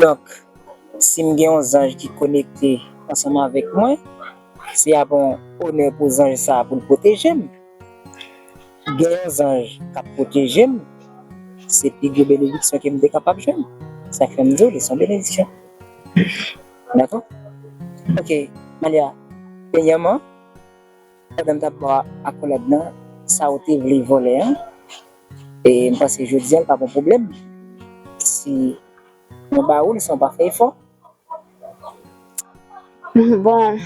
Donk, si m gen yon zanj ki konekte ansanm avèk mwen, se ap yon onè pou zanj sa a pou l pwoteje m. Gen yon zanj k ap pwoteje m, se pi gwo benediksyon ke m te kapab jwenn. Se sa k fè m di w li se yon benediksyon. Dakò? Ok, Malia, peyèman. Pandan m tap bo akolad nan sa ou te vle vòlè an e m panse jodi an l pa gon pwoblèm si mwen ba ou l san w pa fè efò. Bon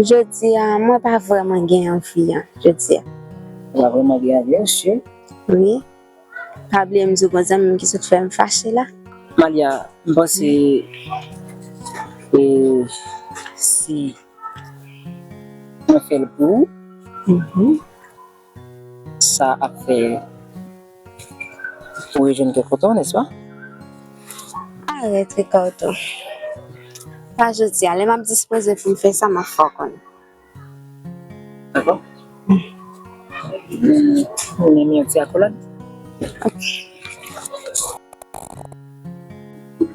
jodi a mwen pa vrèman gen anvi an jodi a. Ou pa vrèman gen anvi an cheri? Wi. Pa bliye m di w bon zanmi m ki sot fè m fache la. Malia, m panse si mwen fè l pou ou, sa ap fè ou rejwenn kè kontan, nèspa? Arèt, Ricardo. Pa jodi a. Lè m ap dispoze pou m fè sa, m ap fè w konnen.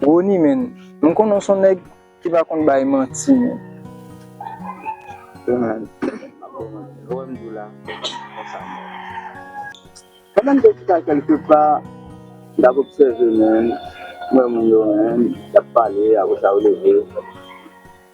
Rony menn m konnen w son nèg ki pa konn bay manti menn. Ronald, map baw manti lè w wèm diw la se konsa m ye. Pandan m te chita kèlke pa m tap obsève menn m wè moun yo menn yap pale aprè sa yo leve.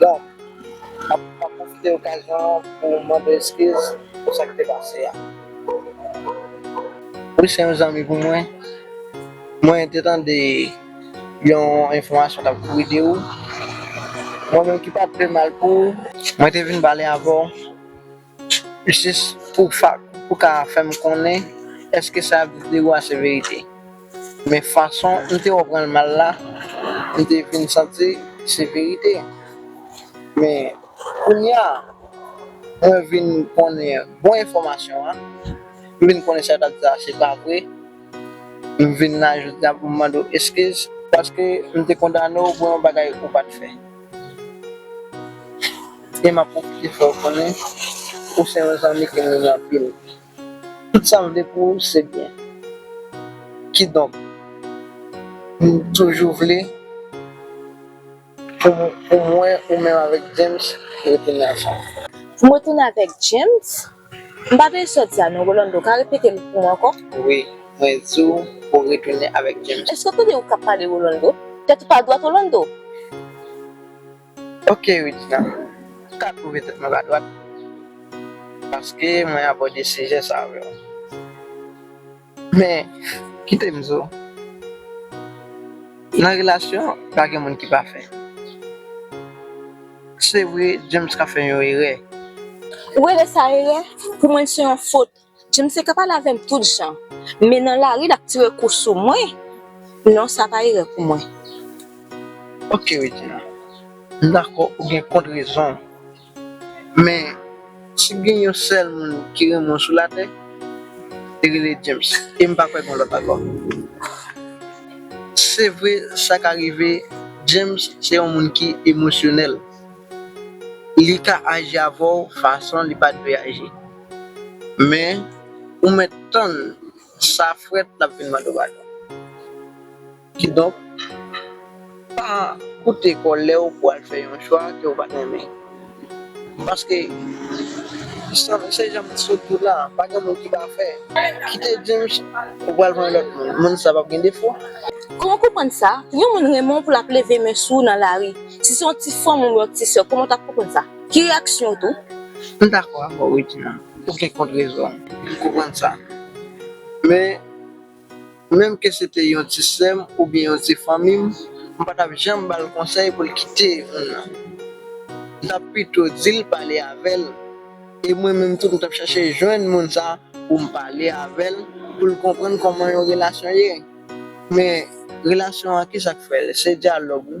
Bon, map map pwofite okazyon an pou mande eskiz pou sa ki te pase a. Wi se yon zanmi pou mwen, mwen te tande yon enfòmasyon kap kouri de ou, mwen menm ki pat vle mal pou ou, mwen te vin pale avè w Jis pou ou ka fèm konnen eske sa yap di ou a se verite. Men fason m te wè ou pran l mal la, m te vin santi se verite. Men kounya mwen vin konnen bon enfòmasyon an, m vin konnen sa yo tap di la se pa vre, m vin la jodi a pou m mande w eskiz paske m te kondane w pou yon bagay ou pat fè. Kem ap pwofite fè w konnen ou se yon zanmi kem renmen anpil tout sam vle pou ou se byen kidonk m toujou vle pou mwen ou menm avèk James rete nan sa. Pou mwen tounen avèk James? M pa tande sot sa non Rolando ou ka repete l pou mwen ankò? Wi mwen di w pou w retounen avèk James. Èske w tande ou k ap pale Rolando? Tèt ou pa dwat Rolando? Ok Regina, m ka twouve tèt mwen pa dwat paske mwen abòde sijè sa avè w. Men kite m di w, nan relasyon pa gen moun ki pafè. Se vre James ka fè yon erè. Ou rele sa erè? Pou mwen l se yon fot. James te ka pale avè m tout jan. Men nan lari l ap tire kou sou mwen, non sa pa erè pou mwen. Ok Regina, m dakò ou gen kont rezon w. Men, si gen yon sèl moun ki renmen w sou latè, li rele James, e m pa kwè gen yon lòt ankò. Se vre, sa ka rive, James se yon moun ki emosyonèl. Li ka aji avè w fason li pa t dwe aji. Men, ou mèt tann sa frèt l ap vin mande w padon. Kidonk, pa koute kò lè ou pou al fè yon chwa ke ou pa t renmen. Paske, se jan m t sot di w la, pa gen moun ki pafè. Kite James, ou pral jwenn lòt moun. Moun sa pap gen defo. Kòman w konprann sa? Yon moun renmen w pou l ap leve men sou ou nan lari. Si se yon ti frè w menm ou yon ti sè w, kòman w t ap konprann sa? Ki reyaksyon w t ou? M dakò avè w Regina, ou gen kont rezon m, m konprann sa. Men. Menm ke se te yon ti sè m oubyen yon ti fanmi m, m pa t ap janm ba l konsèy pou l kite moun nan. M t ap pito di l pale avè l, e mwen menm tou m t ap chache jwenn moun sa pou m pale avè l pou l konprann kòman yon relasyon ye. Men, relasyon an kisa k fè l? Se dyalòg wi.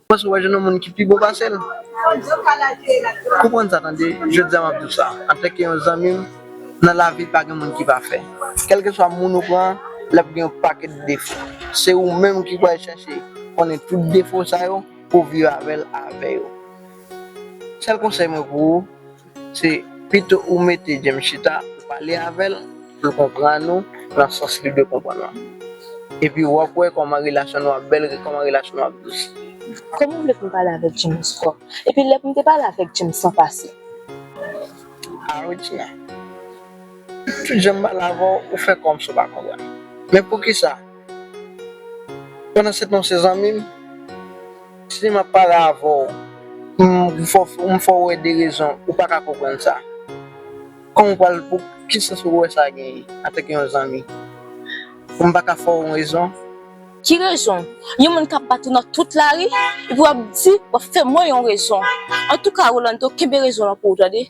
Paske ou pa jwenn yon moun ki pi bon pase l. Konprann sa tande, jodi a m ap di w sa antanke yon zanmi m, nan lavi pa gen moun ki pafè. Kèlkeswa moun ou pran an, l ap gen yon pakèt defo. Se ou menm ki pou al chache konnen tout defo sa yo pou w viv avè l avè yo. Sèl konsèy mwen pou ou. Se pito ou mete James chita, ou pale avè l, pou l konprann ou nan sans li dwe konprann ou an. Epi w ap wè kòman relasyon nou ap bèl, kòman relasyon nou ap dous. Kòman w vle pou m pale avèk James ankò? Epi lè pou m te pale avèk James san pase? A Regina, tout jan m pale avè w, ou fè kòmsi w pa konprann. Men poukisa? Pandan se tan se zanmi m. Si map pale avè w m fè w wè de rezon ou pa ka konprann sa. Kòman ou pral pou ki sans ou wè sa genyen antanke yon zanmi. M pa ka fè w yon rezon. Ki rezon? Yon moun kap bat ou nan tout lari epi wap di wap fè mwen yon rezon. Antouka Rolando kenbe rezon w lan pou ou tande.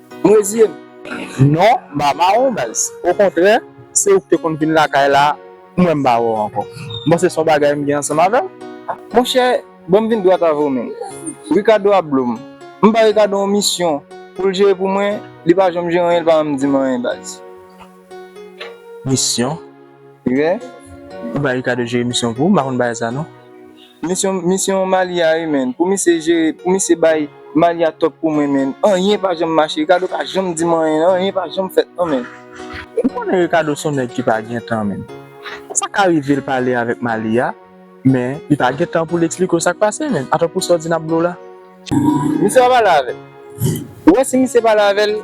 M reziye m. Non, m pa mare w baz. Okontrè, se ou ki te konn vin lakay la pou mwen m mare w ankò. M panse se yon bagay m gen ansanm avè w. Monchè, ban m vin dwat avè w menm. Rikado ap blo m. M ba Rikado yon misyon pou l jere pou mwen, li pa janm jere anyen, li pa menm di m anyen baz. Misyon. Rè. Ou ba Ricardo jere misyon pou ou, m pa konn bagay sa non. Misyon, misyon Mali a wi menn, pou misye jere, pou misye bay Mali a top pou mwen menn, anyen pa janm mache, Ricardo pa janm di m anyen, anyen pa janm fèt non menn. Ou konnen Ricardo son nèg ki pa gen tan menn. Sa ka rive l pale avèk Mali a, men li pa gen tan pou l eksplike w sa k pase menn, atò pou sa w di n ap blo la. Misye pa pale avè l. Ou wè si misye pale avè l.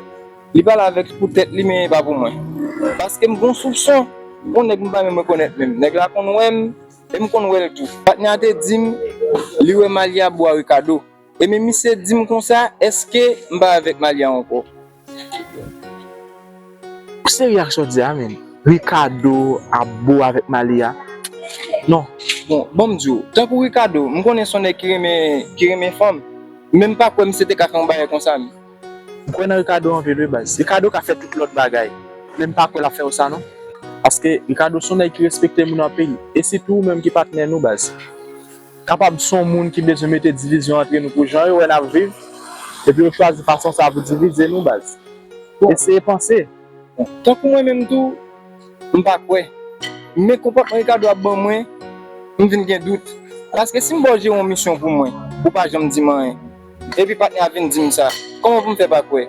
Li pale avèk pou tèt li men e pa pou mwen. Paske m gon soupson pou yon nèg m pa menm rekonèt menm. Nèg la konn wè m e m konn wè l tou. Patnè a te di m li wè Malia bo a Ricardo. E men misye di m konsa èske m pa avèk Malia ankò. Ou serye ak sa w di a menm? Ricardo ap bo avèk Malia? Non. Bon, ban m di w. Tankou Ricardo, m konnen s on nèg ki renmen fanm. Men m pa kwè misye te ka fè yon bagay konsa menm. M kwè nan Ricardo anpil wi baz. Ricardo ka fè tout lòt bagay, men m pa kwè lap fè yo sa non. Paske Ricardo son nèg ki respekte moun anpil, e sitou ou menm ki patnè nou baz. Kapab son moun ki bezwen mete divizyon antre nou pou jan yo wè nap viv, epi yo chwazi fason sa pou divize nou baz. Eseye panse. Bon, tankou mwen menm tou, m pa kwè. Men konpòtman Ricardo ap ban mwen, m vin gen dout. Paske si m baw jeron misyon pou mwen, ou pa janm di m anyen. Epi patnè a vin dim sa. Koman pou m fè pa kwè?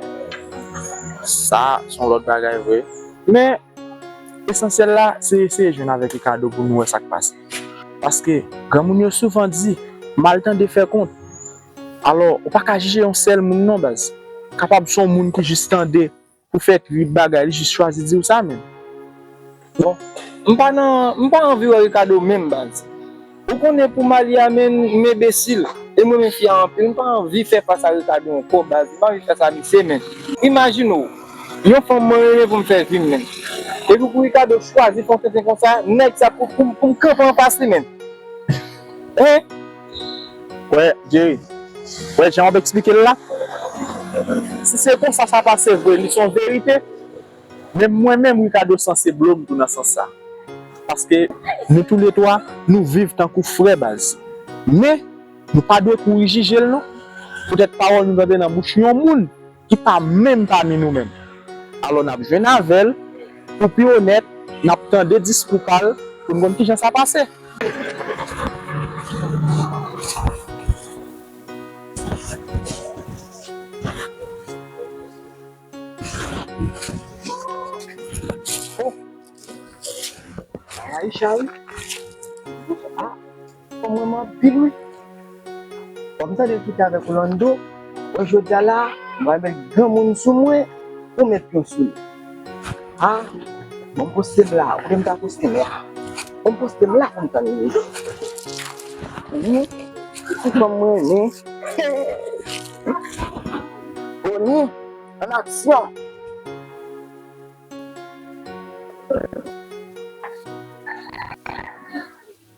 Sa son lòt bagay vre. Men, esansyèl la se eseye jwenn avèk Ricardo pou nou wè sa k pase. Paske, granmoun yo souvan di, mal tande fè kont. Alò, ou pa ka jije yon sèl moun non baz. Kapab son moun ki jis tande. Ou fè trip bagay li jis chwazi diw sa menm. Bon m pa nan m pa anvi wè Ricardo menm baz ou konnen pou Malia menn m enbesil e m renmen fi a anpil m pa anvi fè fas a Ricardo ankò baz m pa anvi fè sa misye menn. Imajine w yon fanm mwen renmen pou m fè vi m menn epi pou Ricardo chwazi fon tenten konsa nèg sa pou m kanpe anfas li menn hein. Wè Jerry, wè jan wap eksplike l la, si se konsa sa pase vre li son verite, men mwen menm Ricardo san se blo m tou nan sans sa, paske nou tou le 3 nou viv tankou frè baz, men nou pa dwe kouri jije l non, poutèt pawòl nou tande nan bouch yon moun. ki pa menm pami nou menm. Alò n ap jwenn avè l, pou pi onèt, n ap tande diskou pa l pou n konn ki jan sa pase. O! Ayicha wi! Fanm renmen anpil wi. Wap m tande kite avèk Orlando. Bon jodia la m pral met granmoun sou mwen pou met pyon sou li a bon m poste m la oubyen m ta poste m la bon m poste m la pou m tann li wi si fanm m renmen hee Ony an aksyon.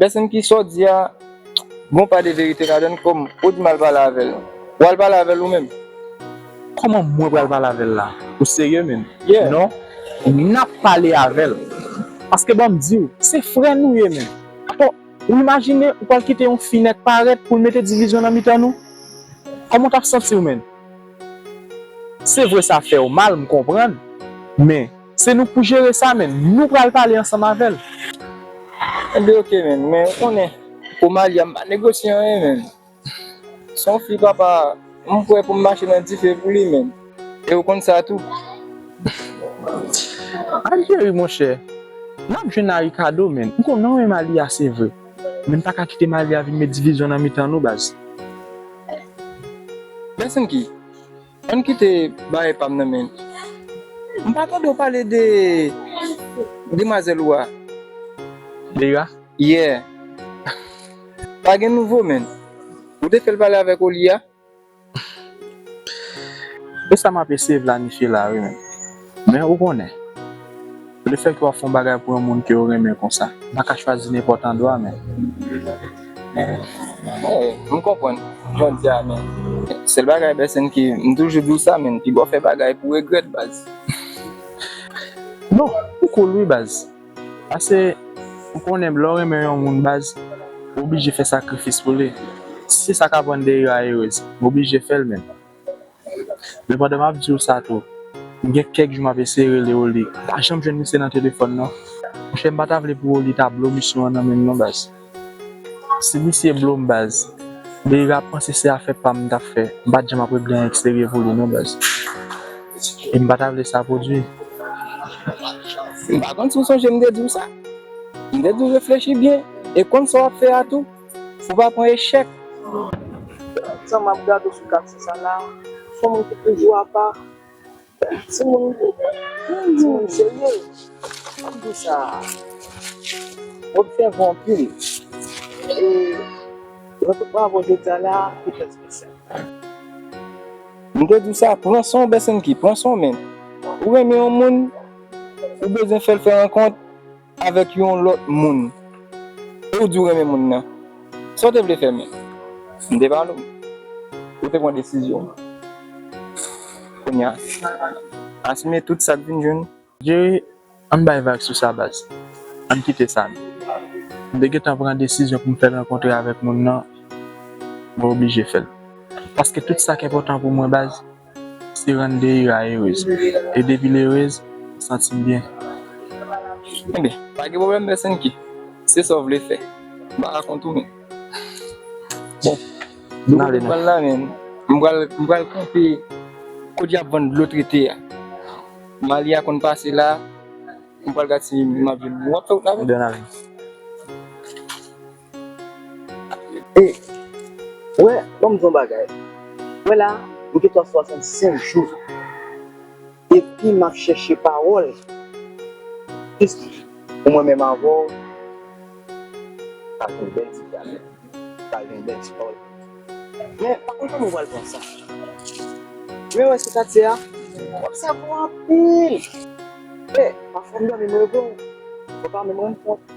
Pèsonn ki sa w di a gon pa de verite ladann kòm ou di m al pale avè l w al pale avè l ou menm. Kòman mwen pral pale avè l la ou serye menm non nap pale avè l paske banm di w se frè nou ye menm atò ou imajine ou pral kite yon fi nèt parèt pou l mete divizyon nan mitan nou kòman w tap santi w menm se vre sa fè w mal m konprann men Se nou pou jere sa men nou pral pale ansanm avèl. Mende ok menn men ou konnen pou Malia m pa negosye anyen menn se yon fi papa m pwè pou m mache nan dife pou li menn e ou konn sa tou. Algeri monchè nap jwenn a Ricardo menn ou konnen ou renmen Malia se vre menn pa ka kite Malia vin met divizyon nan mitan nou baz. Menn Sinky. Ann kite bagay pam nan men. M pa tande w pale de demwazel ou a. Leira? Yeah. Pa gen nouvo men. Ou te fel pale avek Oli a? Esam ap eseye planifiye la wi men. Men ou konnen, le fè ke wap fè yon bagay pou yon moun ke ou renmen konsa, ou pa ka chwazi nenpòt andwa men. Mwen konprann, jan di a men. Sèl bagay Bercène ke m toujou di w sa men, pi bon fè bagay pou regrèt baz. Non, ou cool wi baz. Pase ou konnen lè w renmen yon moun baz, ou oblije fè sakrifis pou li. Si se sa kap rann de yo a erez, ou oblije fè l men. Men pandan map diw sa tou, m gen kèk jou map eseye rele Oli, m pa janm jwenn misye nan telefòn non. Monchè m pa ta vle pou Oli ta blo misyon an nan menm non baz. Si misye blo m baz, Beyri ap panse se afè pam m tap fè, m pat janm ap regle an eksterye pou li non baz. E m pa ta vle sa pwodwi. M pa konn si w sonje m te diw sa. M te diw reflechi byen e konn sa wap fè a tou. Ou pa pran echèk? Jan m ap gade w sou katye sa la, ou son moun ki toujou apa. Ti moun ti moun serye. Ki di sa? Ou obsèvan anpil. E jan tout moun ap wè jodi a la, li trè spesyal. M te di w sa, pran san w Besenki, pran san w men. Ou renmen yon moun, ou bezwen fè l fè rankont. Avèk yon lòt moun. E ou di ou renmen moun nan. Sa ou te vle fè men. M te pale w. Ou te pran desizyon w. Kounye a. Asime tout sa k vin jwenn ou. Jerry, Ann bay vag sou sa baz. Ann kite sa nou. M te gentan pran desizyon pou m fè l rankontre avèk moun nan. Mwen oblije fè l. Paske tout sa k enpòtan pou mwen baz. Se rann Deira erez. E depi l erez, m santi m byen. Enben, pa gen pwoblèm Bersenki. Se sa w vle fè. M pa ka kont ou menm. Bon, m ale nan. M pral la menm. M pral kanpe kote y ap vann dlo trete a. Malia konn pase la. M pral gad si m ap jwenn. W ap fè wout la avè m? Anben, n ale. E, wè, ban m di w yon bagay. Wè la a, m gen tan swasantsenk jou epi m ap chèche pawòl jis pou mwen menm avè w ka fè yon bèl ti dyalòg, pale yon bèl ti pawòl pou nou. Men, pa konn kòman w pral pran sa. Men wè se katye a, m ap save w anpil. E, pafwa m dòmi m reve w, mwen pa menm rann kont.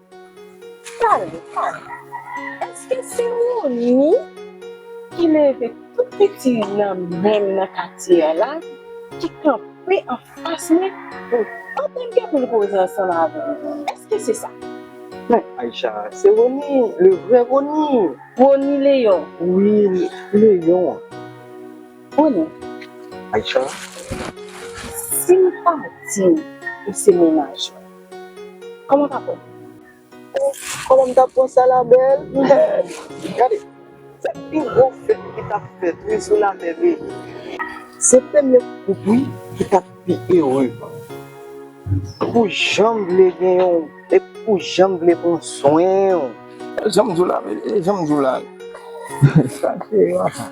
Pale, pale. Eske se Rony ki leve tout piti nan menm nan katye a la ki kanpe anfas mwen pou l pa ta gen pou l koze ansanm avè m? Eske se sa? Men, Aïcha, se Rony, le vrè Rony. Rony Léon? Wi, Léon an. Rony. Aïcha. Si m pa di ou se mennaj mwen. Koman tap bon? Koman m tap bon sa la bèl? Gade! Se pi gwo fèt ki tap fèt wi sou latè beni. Se premye koup wi ki tap pi ere. Ou janm vle gen yon epi ou janm vle pran swen w. Jan m di w la beni, jan m di w la. Sa se yon afè.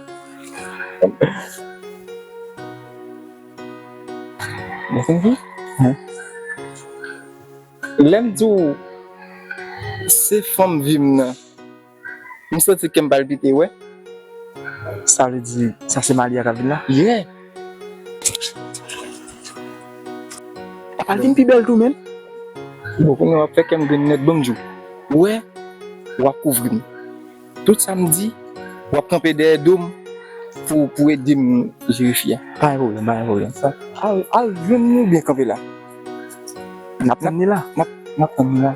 Mwen fin di, lè m di w se fanm vi m nan, m santi kè m palpite wè, sa vle di sa se Malia k ap vin la? Yè! L ap al vin pi bèl tou menm! Bon, kounye a w ap fè kè m grin nèt, bon m di w, wè, w ap kouvri m. Tout sa m di, w ap kanpe dèyè do m pou ede m jere fi a. Pa gen pwoblèm, pa gen pwoblèm. Al jwenn li oubyen kanpe la. N ap tann li la. N ap tann li la.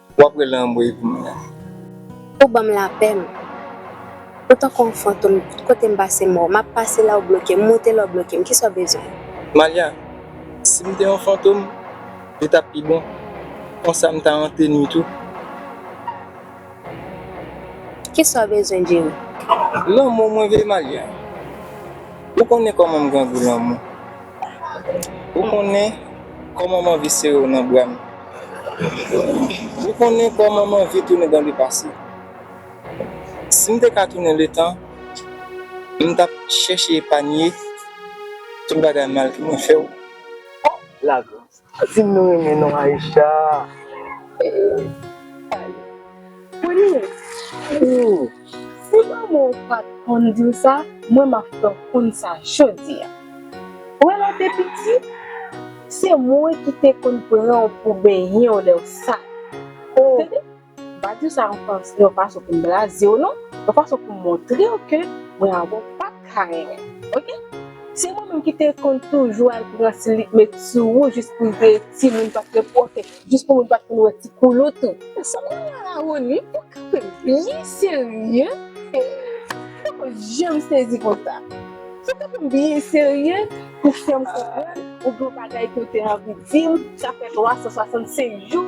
Wap rele anmweyy pou mwen an. Ou banm lapè m. Ou tankou yon fantom tout kotem pase mò map pase la ou blokem moute la ou blokem kisa w bezwen. Malia, sim te yon fantom li tap pi bon konsa m ta ante nwit ou. Kisa w bezwen Jerry. Lanmou mwen vle Malia. Ou konnen kòman m grangou lanmou. Ou konnen kòman m anvi sere w nan bra m Ou konnen kòman m anvi tounen dan le pase Si m te ka tounen letan M tap chèche epanye Tout bagay mal ke mwen fè w Oh la grâce Dim nou renmen non Aïcha. Premye Si manman w pat konn diw sa mwen map fè w konn sa jodi a Ou wè lèw te piti se mwen ki te konn pranw pou benyen w lèw sal Ou tande. M pa di w sa yon fason pou m blaze w non, yon fason pou m montre w ke mwen avè w pa t ka renmen m ok. Se mwen menm ki te konn toujou al pran ti lip met sou ou jis pou m te timoun pa t gen pwòte, jis pou moun pa t konn wè ti koulout ou. Sa m renmen la Rony, ou kanpe byen serye, mwen poko janm sezi konsa. Ou kanpe byen serye pou fè m konprann ou gen yon bagay ke w te anvi di m sa fè 365 jou.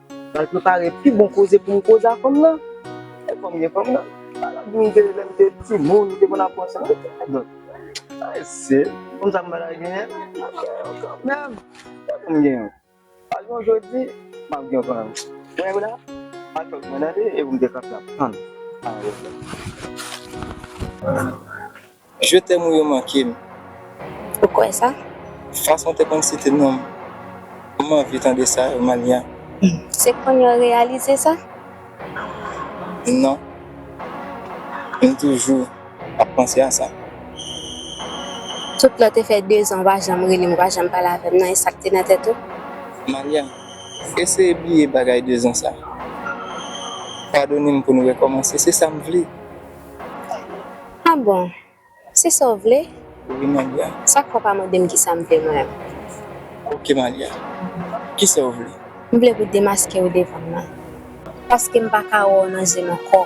Pral prepare pi bon koze pou m koze a fanm nan. Lè fanm gen fanm nan. Sa lap di m ke lè m te timoun m te konn ap pran san l. Ay se fanm sa m pata genyen. Map gen yon kanmenm. Fòk m gen yon. Pa gen yon jodi, map gen yon kanmenm. Ou wè la, al fè koup mwen tande epi m te kanpe ap tann. Je t'aime ou yo manke m. Ou kwè sa? Fason w te konn site non m. M anvi tande sa yo Mania. Se konnye w reyalize sa? Non. M toujou ap panse a sa. Tout lè w te fè dezan w pa janm rele m, ou pa janm pale avè m nan, e sa k te nan tèt ou? Mania, eseye bliye bagay dezan sa. Padone m pou nou rekòmanse, se sa m vle. Ah bon! Se sa w vle? Wi Malia. Sa k fè w pa mande m kisa m vle mwen menm? Ok Malia. Kisa w vle? M vle pou w demaske w devan m nan. Paske m pa ka wè w nan je m ankò.